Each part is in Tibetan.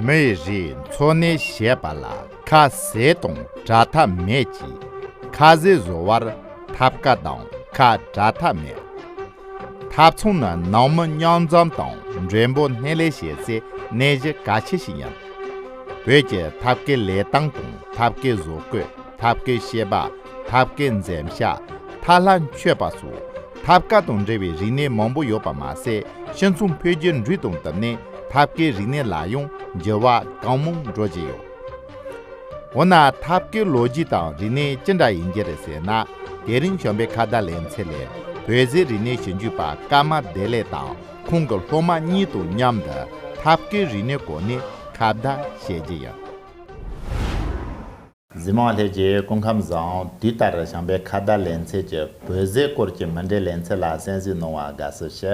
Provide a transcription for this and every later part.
མི་ཡི་རིགས་འཚོ་གནས་བྱས་པ་ལ་ཁ་ཟས་དང་བྲ་ཐ་མེད་ཀྱིས་ཁ་ཟས་བཟོ་བར་ཐབ་ཀ་དང་ཁ་བྲ་ཐ་མེད། ཐབ་ཚང་ནི་ནང་མི་རྙོག་འཛིང་དང་མགྲོན་པོ་སྣེ་ལེན་བྱེད་སའི་གནས་གཞི་གལ་ཆེ་ཞིག་ཡིན། བོད་ཀྱི་ཐབ་ཀའི་ལས་སྟངས་དང་ཐབ་ཀའི་བཟོ་བཀོད་ཐབ་ཀའི་ཤེས་པ་ཐབ་ཀའི་འཛེམ་བྱ་ཐ་ལྷ་མཆོད་པ་སོགས་ཐབ་ཀ་དང་འབྲེལ་བའི་རིག་གནས་མང་པོ་ཡོད་པ་མ་ཟད་ཕྱི་མཚུངས་བོད་རྒྱུད་འབྲུག་དང་དུ་མས་ཐབ་ཀའི་རིག་གནས་ལ་ཡང་འགྱུར་བ་གང་མང་འགྲོ་བཞིན་ཡོད། འོ་ན་ཐབས་བཀའི་ལོ་རྒྱུས་དང་རིག་གནས་ཅི་འདྲ་ཡིན་གྱི་རེད་ཟེར་ན་དེ་རིང་བྱོན་པའི་ཁ་བརྡ་ལེན་ཚེ་ལས་བོད་ཟས་རིག་གནས་ཞིབ་འཇུག་པ་ཀརྨ་བདེ་ལེགས་དང་ཁོང་གི་སློབ་མ་གཉིས་དང་མཉམ་དུ་ཐབས་བཀའི་རིག་གནས་སྐོར་ནས་ཁ་བརྡ་བྱེད་ཀྱི་ཡིན། གཟིགས་མོ་ལྷས་ཀྱིས་སྐུ་ཁམས་བཟང། དུས་ལྟར་བྱོན་པའི་ཁ་བརྡ་ལེན་ཚེ་ཀྱི་བོད་ཟས་སྐོར་གྱི་མི་འདྲའི་ལེན་ཚུལ་ལ་གསན་གཟིགས་གནང་བར་དགའ་བསུ་ཞུ།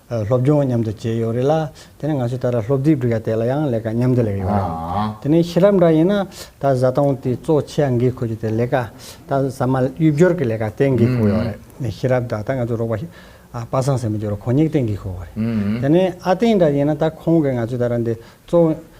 སློབ་སྦྱོང་མཉམ་དུ་བྱས་ཡོད་རེད་ལ། དེ་ནས་ང་ཚོས་ད་རེས་སློབ་དེབ་བསྒྲིགས་ཡ་དེ་ལ་ཡང་ལས་ཀ་མཉམ་འདེགས་ལས་ཡོད་པ་རེད། དེ་ནས་ཤེས་རབ་འདྲ་ཡིན་ན་ད་བཟའ་བཏུང་དེ་གཙོ་ཆེ་ཡ་འགེལ་དགོས་རྒྱུ་དེ་ལས་ཀ་ད་ཟ་མ་དབྱིབས་སྦྱོར་གྱི་ལས་ཀ་དེ་འགེལ་དགོས་ཡོད་རེད། ནས་ཤེས་རབ་ད་ད་ང་ཚོ་རོགས་པ་པ་བཟང་ཟེར་མི་རྒྱུ་རུ་གོ་སྙེགས་དེ་འགེལ་དགོས་ཡོད་རེད། དེ་ནས་ཨ་ཏིང་འདྲ་ཡིན་ན་ད་ཁོང་གིས་ང་ཚོས་ད་རེས་འདི་གཙོ་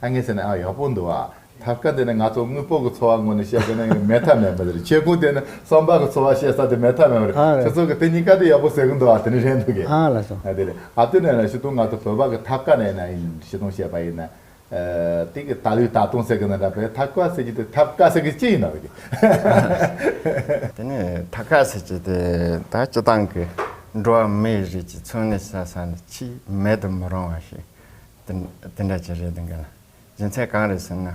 ད་ངས་བྱས་ན་ཨང་ཡག་པོ་འདུག་ཨ། ཐབས་བཀའ་འདི་ནི་ང་ཚོ་དངོས་པོ་གི་འཚོ་བ་དངོས་ནས་བཤད་དགོས་ན་མེད་ཐབས་མེད་པ་རེད་ཁྱེད་ཁོང་དེ་ནི་རྩོམ་པ་གི་འཚོ་བ་བཤད་ས་དེ་མེད་ཐབས་མེད་པ་རེད་ཁྱེད་ཚོ་གི་དེ་གཉིས་ཀ་དེ་ཡག་པོ་ཟེར་གི་འདུག་ཨ་དེ་ནི་རེད་འདུག་གི། ཨ་ལ་སོ། དེ་ལས་ཨ་དེ་ནས་ན་ཤི་དུང་ང་ཚོ་བོད་པ་གི་ཐབས་བཀའ་ནས་ན་ཡིན་ཤི་དུང་བཤད་པ་ཡིན་ན། དེ་གི་ད་ལོའི་ད་དུང་ཟེར་གི་ན་འདྲ་པས་ཐབས་བཀའ་ཟེར་གྱི་དེ་ཐབས་བཀའ་ཟེར་གི་ཅི་ཡིན་ནོ་ཨ། དེ་ནས་ཐབས་བཀའ་ཟེར་གྱི་དེ་ད་སྤྱི་སྟངས་གི་འགྲོ་བ་མིའི་རིགས་ཀྱི་འཚོ་གནས་བྱ་ས་ནི་ཆེས་མེད་དུ་མི་རུང་བ་ཞིག་དེ་འདྲ་ཅི་རེད་དེ་འགལ་རྒྱུ་མཚན་གང་རེད་ཟེར་ན།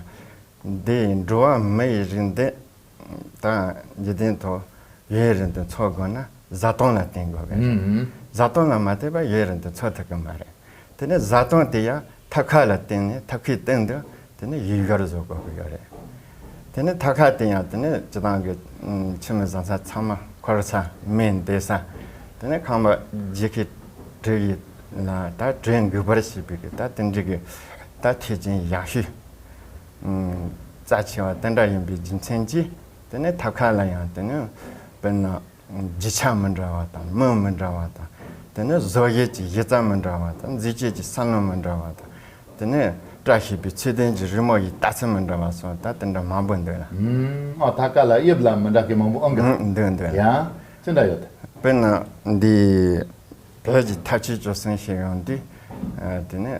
འདི་ཡིས་འགྲོ་བ་མི་ཡི་རིན་དེ་དང་འཇིག་རྟེན་ཐོག་ཡོའི་རིན་དེ་འཚོ་དགོས་ན་བཟའ་བཏུང་ལ་བརྟེན་དགོས་གི་རེད། བཟའ་བཏུང་ལ་མ་བརྟེན་པ་ཡོའི་རིན་དེ་འཚོ་ཐུབ་གི་མ་རེད། དེ་ནས་བཟའ་བཏུང་དེ་ཡང་ཐབ་ཁ་ལ་བརྟེན་ནས་ཐབ་ཁའི་སྟེང་དུ་དེ་ནས་ཡུལ་སྐོར་བཟོ་དགོས་གི་ཡོད་རེད། དེ་ནས་ཐ་ཁ་དེ་ཡང་དེ་ནས་སྤྱི་བཏང་གི་ཕྱི་མི་བཟང་ས་ཚང་མ་འཁོར་ར་ས་མི་འདེད་ས་དེ་ནས་ཁང་པ་རྗེ་ཁི་བྲི་ཡི་ན་ད་བྲི་འགུལ་པར་བྱེད་པའི་གི་ད་དེ་འདྲི་གི་ད་ཐེ་ཅན་ཡག་ཤོས། རྩ་ཆེ་བ་དེ་འདྲ་ཡིན་པའི་རྒྱུ་མཚན་གྱིས་དེ་ནས་ཐ་ཁ་ལ་ཡང་དེ་ནས་དཔེར་ན། བརྗིད་ཆགས་མི་འདྲ་བ་དང་མིང་མི་འདྲ་བ་དང། དེ་ནས་བཟོ་བཞེད་ཀྱི་གཞི་རྩ་མི་འདྲ་བ་དང་འཛིན་བྱེད་ཀྱི་ས་ལམ་མི་འདྲ་བ་དང། དེ་ནས་བཀྲ་ཤིས་པའི་ཚིག་དོན་གྱི་རི་མོ་ཡི་ལྟ་ཚུལ་མི་འདྲ་བ་སོགས་ད་དེ་འདྲ་མང་པོ་འདུག་ལ། ཨ་ཐ་སྐ་ལ་དབྱིབས་ལ་མི་འདྲ་གི་མང་པོ་ཨང་ཀི། འདུག་འདུག་ལ། ཡང་ཅི་འདྲ་ཡོད། དཔེར་ན་འདིའི་བོད་ཀྱི་ཐབས་ཆེ་ཆུང་གསུམ་ཞིག་ཡོང་དུས། དེ་ནས།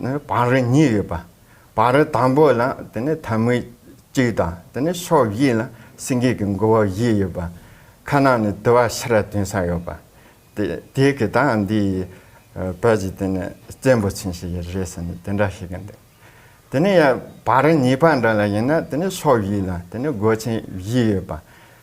ནི་བག་རེ་གཉིས་ཡོད་པ། བག་རེ་དང་པོ་ལ་དེ་ནི་ཐལ་མོ་གཅིག་དང་དེ་ནི་ཕྱོགས་བཞི་ལ་སེང་གེ་གི་མགོ་བོ་བཞི་ཡོད་པ། ཁ་ནང་ནི་དུ་བ་ཤ་ར་དུན་སྲང་ཡོད་པ། དེ་དེ་གི་དང་འདི་ཡི་བར་གྱི་དེ་ནི་བཙན་པོ་ཆེན་ཞིག་ཡིན་རེད་ཟེར་ནས་དེ་འདྲ་བཤད་གིན་འདུག་དེ་ནི་ཡང་བག་རེ་གཉིས་པ་འདྲ་ལ་ཡིན་ན་དེ་ནི་ཕྱོགས་བཞི་ལ་དེ་ནི་མགོ་ཆེན་བཞི་ཡོད་པ།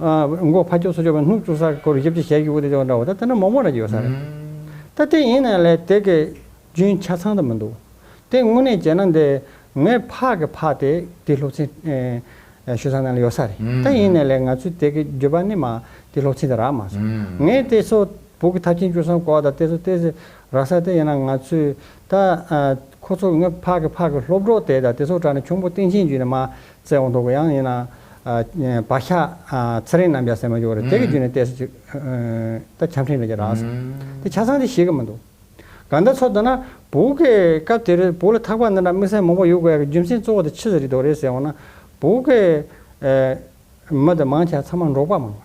མགོ་ཕ་ཁྱོད་ཚོ་ཆོས་པ་སྣུབ་བཅུག་ས་གོ་རུ་ཡིབ་ཅེས་ཞལ་གྱིས་དབུགས་དེ་ཅོག་འདྲ་བོ་ད་ལྟ་ན་མོག་མོག་ར་གྱི་ཡོད་ས་རེད་ད་དེ་ཡིན་ན་ལས་དེ་གའི་རྒྱུན་ཆ་ཚང་དུ་མི་འདུག་དེ་དངོས་གནས་བྱས་ན་འདི་ངའི་ཕ་གི་ཕ་དེ་དེའི་སློབ་ཚན་ཞུ་ས་ན་ལ་ཡོད་ས་རེད་ད་ཡིན་ན་ལས་ང་ཚོའི་དེ་གའི་རྒྱུད་པ་ནི་མ་དེའི་སློབ་ཚན་དེ་རག་མ་སོང་ངའི་དེ་ཚོ་བུ་གི་ཐབས་ཆེན་བཅུ་གསུམ་གོ་ད་དེ་ཚོ་དེ་རག་ས་དེ་ཡིན་ན་ང་ཚོས་ད་ཁོ་ཚོ་ངའི་ཕ་གི་ཕ་གི་སློབ་གྲོགས་དེ་ད་དེ་ཚོ་དྲག་ནས་ཁྱུང་པོ་སྟེང་ཆེན་བརྒྱུད་ནས་མ་རྩེ་འོང་དོགས་ཡང་ཡིན། བག་ཤ། ཚེ་རིང་རྣམ་རྒྱལ་ཟེར་མ་བྱུང་བ་རེད་དེ་གི་རྒྱུད་ནས་བལྟས་སུ་ད་ཆ་འཕྲིན་ལས་ཀྱི་རགས་སོང། དེ་ཆ་ཚང་དེ་ཞིག་གི་མི་འདུག། ག་འདི་ཚོ་དང་ན་བུ་གི་སྐབས་དེར་བུ་ལ་ཐག་པ་འདི་འདྲ་དམིགས་བསལ་མང་པོ་ཡོད་དགོས་ཡ་གི་རྒྱུ་མཚན་གཙོ་བོ་དེ་ཕྱི་ཟ་རིག་དོགས་རེད་ཟེར་འོང་ན་བུ་གི། མི་དེ་མང་ཆེ་བ་ཚང་མ་འབྲོག་པ་མང་པོ་རེད།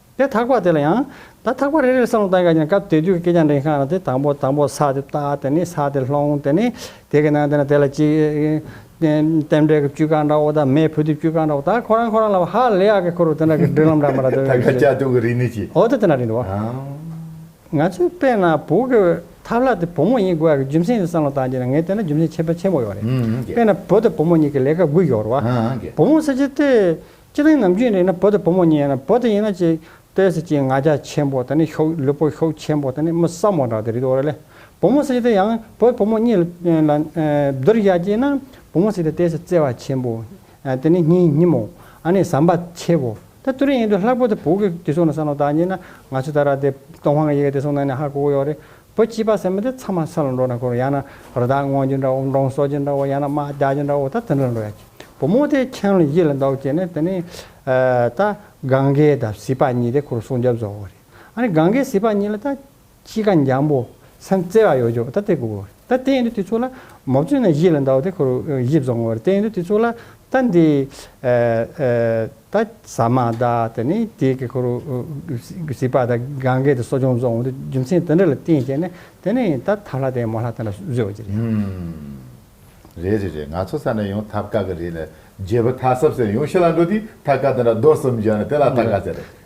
དེ་ཐག་པ་དེ་ལ་ཡང། ད་ཐག་པ་རེ་རེར་བསམ་བློ་བཏང་ག་གྱང་སྐབས་དེ་དུས་ཀྱི་སྐད་ཆ་འདྲེན་ཁང་ལ་དེ་དང་པོ་དང་པོ་ས་དེ་བཏགས་དེ་ནས་ས་དེ་སློང་དེ་ནས་དེ་གི་ནང་དེ་ན་དེ་ལ་གཅིག། རྟེན་འབྲེལ་གྱི་བཅུད་གང་འདྲ་བོ་དང་མའི་བུ་དེའི་བཅུད་གང་འདྲ་བོ་དང་ཁོ་རང་ཁོ་རང་ལ་བ་ཧ་ལས་ཡག་གི་ཁུ་རུ་དེ་འདྲ་གི་སྒྲིག་ལམ་འདྲ་མོ་ར་དེ་ད་ག་བྱ་སྟོད་ཀྱི་རིག་གནས་ཀྱི། འོ་དེ་དེ་ན་རིག་འདུག་བ། ང་ཚོའི་དཔེ་ན་བུ་གི་ཐབས་ལ་དེ་བུ་མོ་ཡིན་དགོས་ཡག་གི་རྒྱུ་མཚན་དེ་བསམ་བློ་བཏང་རྗེས་ན་ངས་བལྟས་ན་རྒྱུ་མཚན་ཆེན་པོ་ཆེན་པོ་ཡོད་རེད། དཔེ་ན་བུ་དང་བུ་མོ་གཉིས་ཀྱི་ལས་ཀ་དགུ་ཡོད་རེད་བ། བུ་མོ་ཟེར་རྗེས་དེ། ཅི་སྟེ་ནམ་རྒྱུན་རེ་ན་བུ་དང་བུ་མོ་གཉིས་ཡིན་ན་བུ་དེ་ཡིན་ན་ཅི། ལྟོས་ཟེར་གྱིས་ང་རྒྱ་ཆེན་པོ་དང་ནི་ཤོག་ལུས་པོ་ཤོག་ཆེན་པོ་དང་ནི་མི་བསམ་མོ་འདྲ་དེ་རི་དུ་འོར་ལེ། བུ་མོ་ཟེར་གྱིས་དེ་ཡང་བུ་བུ་མོ་གཉིས་ལ་བསྡུར་བཞག་གྱིས་ན། བུ་མོ་ཟེར་གྱིས་ལྟོས་ཟེར་བརྩེ་བ་ཆེན་པོ། དེ་ནི་སྙིང་སྙི་མོ། ཨ་ནི་ཟམ་པ་ཆེ་བོ། ད་དུ་རི་ཡིན་དུ་ལྷག་བུ་དང་བུ་གི་དུས་སོགས་ན་ས་ནོ་ད་ཉིད་ན་ང་ཚོས་ད་ར་དེ་ཏོང་ཧང་གི་ཡི་གེ་དེ་སོང་ན་ནི་ཧ་གོ་གོ་ཡོག་རེད། བུ་སྐྱིད་པ་ཟེར་མི་དེ་ཚང་མ་ས་ལ་འགྲོ་ན་འགོར་ཡང་ན་རི་དྭགས་སྔོ་རྒྱུ་འདྲ་བོ་འབྲོང་སོགས་རྒྱུ་འདྲ་བོ་ཡང་ན་དམག་རྒྱག་རྒྱུ་འདྲ་བོ་ད་དེ་འདྲ་འགྲོ་ཡ་ཅི། བུ་མོ་དེ་ཁྱེད་ལ་ཡིད་ལ་འདོགས་བྱས་ནས་དེ་ནས་ད་གངྒཱའི་དང་སྲིད་པ་གཉིས་དེ་ཁོ་རུ་སྲུང་སྐྱབས་བཟོ་བོ་རེད་ཨ་ནི་གངྒཱའི་སྲིད་པ་གཉིས་ལ་ད་ཅི་ཀ་འཇམ་པོ་སེམས་བརྩེ་བ་ཡོད་རྒྱུ་བོ་ད་དེ་དགོས་རེད་ད་དེ་ཡིན་དུས་དེ་ཚོ་ལ་མོ་བཙུན་ན་ཡིད་ལ་འདོགས་དེ་ཁོ་རུ་ཡིད་བཟང་བོ་རེད་དེ་ཡིན་དུས་དེ་ཚོ་ལ་ད་འདི། ད་ཟ་མ་ད་དེ་ནི་དེའི་དཀྱིལ་འཁོར། གཟིགས་པ་ད་གངྒཱའི་དེ་གསོ་སྦྱོང་རྫོགས་འོང་དུ་རྒྱུ་མཚན་དེ་འདྲ་ལ་བརྟེན་བྱས་ནས་དེ་ནི་ད་ཐ་ལྷ་དེ་མོ་ལྷ་དེ་འདྲ་བཟོས་བ་ཅི་རེད། རེད་རེད་རེད་ང་ཚོ་ས་ནས་ཡང་ཐབས་དཀའ་གི་རེད་ལ་རྒྱལ་བུ་ཐ་སབ་སེ་ཡང་ཤི་ལ་འགྲོ་དུས་ཐ་དཀའ་དེ་འདྲ་རྡོ་གསུམ་བརྒྱབ་ནས་དེ་ལ་ཐ་དཀའ་ཟེར་རེད།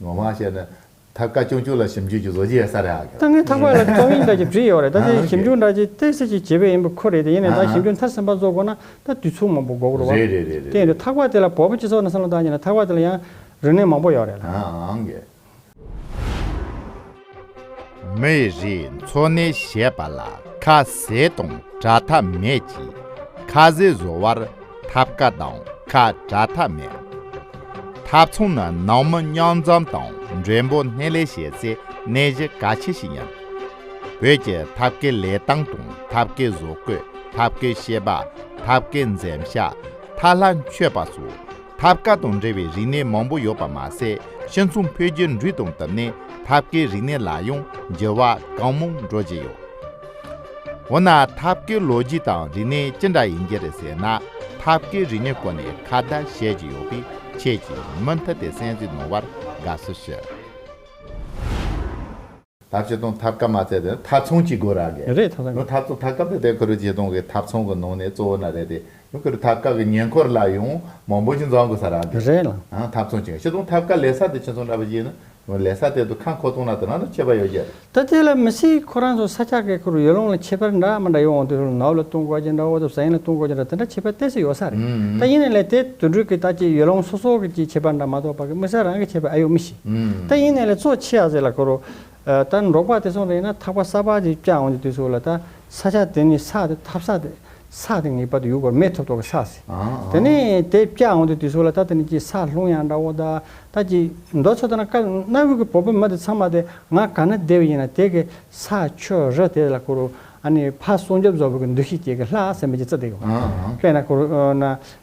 ངོ་མ་བཤད་ན། ཐབས་དཀའ་ཅུང་ཅུང་ལ་ཞིབ་འཇུག་གི་བཟོ་རྗེས་ཡལ་ས་རེད་ཨ། ད་ངས་ཐག་པ་ལ་ཏོག་དབྱིངས་འདྲ་ཞིག་བྲིས་ཡོད་རེད་ད་དེ་ཞིབ་འཇུག་འདྲ་ཅིག་སྟེ་གསེར་གྱི་བྱེད་པོས་ཡིན་པ་ཁོ་རེད་དེ་ཡིན་ནའི་ད་ཞིབ་འཇུག་མཐར་ཟིན་པ་བཟོ་དགོས་ན་ད་དུས་ཚུགས་མང་པོ་འགོག་རུ་བ་དེ་ཡིན་དུས་ཐག་པ་དེ་ལ་བོར་བ་སྤྱི་ཚོགས་ནང་བསམ་བློ་བཏང་ཉེ་ན་ཐག་པ་དེ་ལ་ཡང་རིག་གནས་མང་པོ་ཡོད་རེད་ལ། མོས་རི་མཚོ་ནས་བཤད་པ་ལ་ཁ་ཟས་དང་བྲ་ཐ་མེད་ཀྱི། ཁ་ཟས་བཟོ་བར་ཐབ་ཀ་དང་ཁ་བྲ་ཐ་མེད། ཐབ་ཚང་ནི་ནང་མི་རྙོག་འཛིང་དང་མགྲོན་པོ་སྣེ་ལེན་བྱེད་སའི་གནས་གཞི་གལ་ཆེ་ཞིག་ཡིན། བོད་ཀྱི་ཐབ་ཀའི་ལས་སྟངས་དང་ཐབ་ཀའི་བཟོ་བཀོད་ཐབ་ཀའི་ཤེས་པ་ཐབ་ཀའི་འཛེམ་བྱ་ཐ་ལྷ་མཆོད་པ་སོགས། ཐབ་དཀར་དང་འབྲེལ་བའི་རིག་གནས་མང་པོ་ཡོད་པ་མ་ཟད་ཤིང་མཚུངས་འཕེལ་རྒྱས་འགྲོས་དང་བསྟུན་ནས་ཐབ་དཀར་རིག་གནས་ལ་ཡང་འགྱུར་བ་གང་མང་འགྲོ་བཞིན་ཡོད། འོ་ན་ཐབ་དཀར་ལོ་རྒྱུས་དང་རིག་གནས་ཅི་འདྲ་ཡིན་རྒྱུ་རེད་ཟེར་ན་ཐབ་དཀར་རིག་གནས་སྐོར་ནས་ཁ་བརྡ་བྱེད་ཀྱི་ཡོད་པས་ཁྱེད་ཀྱིས་མུ་མཐུད་དེ་གསན་གཟིགས་གནང་བར་དགའ་བསུ་ཞུ། ཐབ་ཆེ་དང་ཐབ་སྐབས་མ་བཙལ་དུས་ཐབ་ཚང་གཅིག་དགོས་རག་གི། རེད་ད་ཐབ་ཚང་ཐབ་སྐབས་དེ་ལྟའི་ཁུ་རུ་ཆེ་དང་གི་ཐབ་ཚང་གི་ནང་ནས་གཙོ་བོ་ན་རེད་དེ། ཁུ་རུ་ཐབ་སྐབས་ཀྱི་ཉེ་འཁོར་ལ་ཡང་མང་པོ་ཞིག་འཛག་དགོས་ས་རག་གི། རེད་ལ། ཐབ་ཚང་གཅིག་གཅིག་དང་ཐབ་སྐབས་ལས་ས་དེ་ཁྱིམ་ཚང་འདྲ་པོ་ཞིག་ཡིན་ན། ལས་ས་དེ་དུ་ཁ་འཁོར་བཏང་ན་དེ་རང་དང་ཁྱད་པར་ཡོད་རྒྱུ་རེད། ད་དེ་ལ་མི་སྲིད་ཁོ་རང་ཚོ་ས་ཆ་གི་ཁུ་རུ་ཡུལ་ལུང་ལ་ཁྱད་པར་འདྲ་མི་འདྲ་ཡོད་འོང་དུས་ལོ་ནའུ་ལ་བཏང་དགོས་ཀྱི་འདྲ་འོ་ཐབ་ས་ཡིན་ལ་བཏང་དགོས་ཀྱི་འདྲ་དེ་འདྲ་ཁྱད་པར་གཏད་སྲིད་ཡོད་ས་རེད། ད་ཡིན་ན་ལས་དེ་དུད་འགྲོས་ཀྱི་ལྟ་ཅི་ཡུལ་ལུང་སོ་སོ་གི་ཅིག་ཁྱད་པར་འདྲ་མ་གཏོགས་པ་གི་མི་ས་རང་གི་ཁྱད་པར་ཨེ་ཡོད་མི་ཤེས། ད་ཡིན་ནའི་ལས་ཚོགས་ཆེ་ཡག་ཟེར་ལ་ཁོ་རོ། ད་འབྲོག་པ་དེ་སོང་རེད་ན་ཐག་པ་གསར་པ་ཅིག་བཀྱག་འོང་རྒྱུ་དུས་སུ་ལ་ད་ས་ཆ་དེ་ནི་ས་དེ་ཐབ་ས་དེ་ས་དེ་ངེས་པ་དུ་ཡུལ་སྐོར་མེད་ཐོབ་ཐོག་གི་ས་སི། དེ་ནས་དེ་བཀྱག་འོང་རྒྱུ་དུས་སུ་ལ་ད་དེ་ནི་ཅི་ས་ལྷུང་ཡང་འདྲ་བོ་ད་ད་ཅི་འདོད་ཚོ་ད་ན་ཀ་གནའ་བོའི་གི་བོད་པོ་མི་དེ་ཚང་མ་དེ་ང་ག་ན་དེ་བས་ཡིན་ན་དེ་གི་ས་ཆོ་རི་དེ་ལ་ཁོ་རོ་ཨ་ནི་ཕ་སོ་འཇབ་བཟོ་བོ་གི་འདུ་ཤེས་སྐྱེ་གི་ལྷ་སེམས་པ་ཅིག་རྩི་དེ་གི་བ་དཔེ་ན་ཁོ་རོ་ན།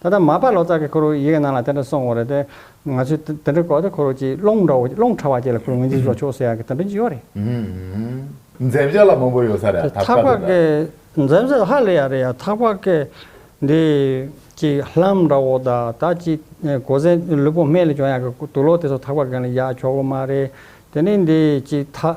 ད་ལྟ་མར་པ་ལོ་ཙཱ་གི་ཁུར་བོ་ཡི་གེ་ནང་ལ་དེ་འདྲ་སོང་བ་རེད་དེ། ང་ཚོས་དེ་འདྲ་གོ་དེ་ཁུར་བོ་ཅིག་སློང་འདྲ་བོ་ཅིག་སློང་ཕྲ་བ་ཅིག་ལ་ཁུར་བོ་ངོས་འཛིན་བཟོ་ཆོག་ཟེར་ཡག་གི་དེ་འདྲ་ཅིག་ཡོད་རེད། འཛེམ་བྱ་ལ་མང་པོ་ཡོད་ས་རེད་ད་ཐག་པགས་ཀྱི་འཛེམ་བྱ་ལ་ཧ་ལས་ཡག་རེད་ཡ་ཐག་པགས་ཀྱི་འདི་ཅིག་ལྷམ་འདྲ་བོ་དང་ད་ཅིག་གོ་ཟེ་ལུས་པོ་སྨད་ལས་ཀྱང་ཡག་གི་འདུག་ལོ་དེ་ཚོ་ཐག་པགས་ཀྱི་ལ་ཡག་ཆོག་གི་མ་རེད་དེ་ནས་འདི་ཅིག་ཐག་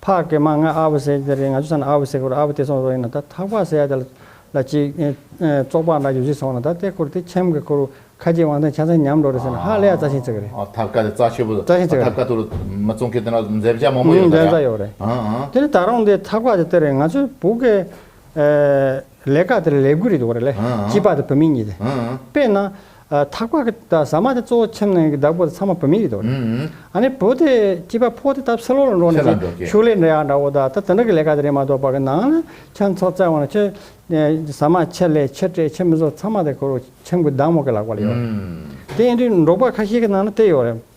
ཕག་གི་མ་ང་ཨ་བུ་ཟེར་གྱི་རེད་ང་ཆུ་ཚ་ན་ཨ་བུ་ཟེར་གི་རེད་ཨ་བུ་དེ་སོང་རོགས་ཡིན་ན་ད་ཐག་པག་ཟེར་ཡ་དེ་ལ་ཅིག་བཙོག་པག་འདྲ་ཡོད་ཅིག་སོང་ན་ད་དེ་ཁུར་དེ་ཁྱིམ་གི་ཁུར་ཁ་ཅིག་དབང་ཐང་ཆ་ཚང་ཉམས་འགྲོ་རེད་ཟེར་ན་ཧ་ལས་ཡ་རྩ་ཆེན་ཚིག་རེད། ཐག་ཀ་དེ་རྩ་ཆེ་པོ་རེད་རྩ་ཆེན་ཚིག་རེད། ཐག་ཀ་དུ་མི་བཙོང་མཁན་དེ་ན་མཛེས་བྱ་མང་པོ་ཡོད་ད་ཡ། མཛེས་བྱ་ཡོད་རེད། དེ་ནི་ད་རུང་དེ་ཐག་པག་དེ་དེ་རེད་ང་ཚོའི་བུ་གི་ལས་ཀ་དེ་ལས་དགུ་རེད་འདུག་རེད་ལས་སྤྱི་པག་དེ་བུད་མེད་གཉིས་དེ་དཔེར་ན། ཐག་པ་གི་ད་ཟ་མ་དེ་གཙོ་བོ་ཁྱིམ་ནང་གི་བདག་པོ་དེ་ཚང་མ་བུད་མེད་རེད་དོ། ཨ་ནི་བུ་དེ་སྐྱིད་པ་ཕོ་དེ་ད་བསེ་ལོག་ལ་འགྲོ་ནི་ཅིག་ཤུགས་ལས་འདྲ་ཡག་འདྲ་བོ་ད་ད་དེ་འདྲ་གི་ལས་ཀ་དེ་རེད་མ་གཏོགས་པ་གི་ནང་ན་ཁྱིམ་ཚོགས་བཙལ་བ་ན་ཁྱི་ཟ་མ་ཁྱི་ལས་ཁྱི་སྤྲེལ་ཁྱི་མི་ཟོག་ཚང་མ་དེ་ཁོ་རུ་ཁྱིམ་གི་བདག་མོ་གི་ལག་པ་ལ་ཡོད། དེ་ཡིན་དུས་འབྲོག་པ་ཁ་ཤས་ཀི་ནང་ན་དེ་ཡོད་རེད།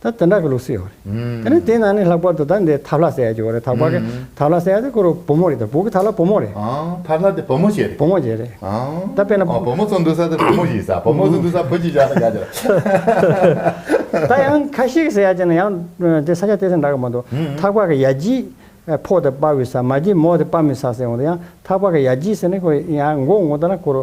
ད་དེ་འདྲ་གི་ལུགས་སྲིད་ཡོད་རེད། དེ་ནས་དེ་ནང་ནས་ལྷག་པར་དུ་ད་འདི་ཐབ་ལྷ་སེ་ཡ་ཡོད་རེད་ཐབ་ལྷ་གི་ཐབ་ལྷ་སེ་ཡ་དེ་ཁོ་རུ་བུ་མོ་རེད་དེ་བུ་གི་ཐབ་ལྷ་བུ་མོ་རེད། ཐབ་ལྷ་དེ་བུ་མོ་བྱེད་རེད། བུ་མོ་བྱེད་རེད། ད་དཔེ་ན། བུ་མོ་ཚོ་འདུག་ས་དེ་བུ་མོ་བྱེད་ས་བུ་མོ་ཚོ་འདུག་ས་བུ་བྱེད་བྱ་ས་ཡ་དེ་རེད། ད་ཡང་ཁ་ཤེ་གི་སེ་ཡ་ཅན་ན་ཡང་དེ་ས་ཆ་དེ་སེ་འདྲ་གི་མ་འདུག་ཐག་པ་གི་ཡ་ཇི། ཕོ་དེ་དཔའ་བི་ས་མ་ཇི་མོ་དེ་དཔའ་མི་ས་སེ་ཡོང་དེ་ཡང་ཐག་པ་གི་ཡ་ཇི་སེ་ནི་ཁོ་ཡང་མགོ་མགོ་ད་ན་ཁོ་རུ་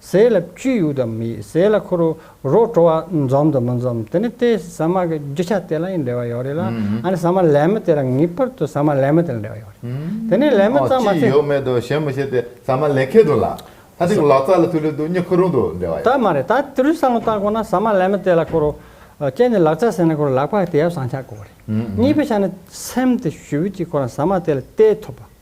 ཟས་ལ་བཅུད་ཡོད་དམ་མེད་ཟས་ལ་ཁུ་རོ་བྲོ་བ་འཛོམ་དང་མི་འཛོམ་དེ་ནི་དེ་ཟ་མ་གི་རྒྱུ་ཆ་དེ་ལ་ཡང་འབྲེལ་བ་ཡོད་རེད་ལ་ཨ་ནི་ཟ་མ་ལས་མི་དེ་ལ་ངེས་པར་དུ་ཟ་མ་ལས་མི་དེ་ལ་འབྲེལ་བ་ཡོད་རེད་དེ་ནས་ལས་མི་གཙང་མ་ཅི་ཡོད་མེད་དུ་གཞན་མི་ཤེས་ཏེ་ཟ་མ་ལས་ཁེ་དུ་ལ་ཨ་ཏི་གི་ལག་རྩ་ལ་ཐུག་ལུས་དུ་སྙི་ཁུ་རུང་དུ་འབྲེལ་བ་ཡོད། ད་མ་རེད་ད་དེ་རུས་སང་ལོ་བཏགས་དགོས་ན་ཟ་མ་ལས་མི་དེ་ལ་ཁུ་རོ་བཅད་ནས་ལག་རྩ་ཟས་ན་ཁུ་རོ་ལག་པ་དེ་ཡབ་སང་ཆགས་དགོས་པ་རེད་གཉིས་པའི་ཆ་ནི་སེམས་དེ་ཞུ་བུད་ཀྱི་ཁོ་རང་ཟ་མ་དེ་ལ་བལྟས་ཐུབ་པ།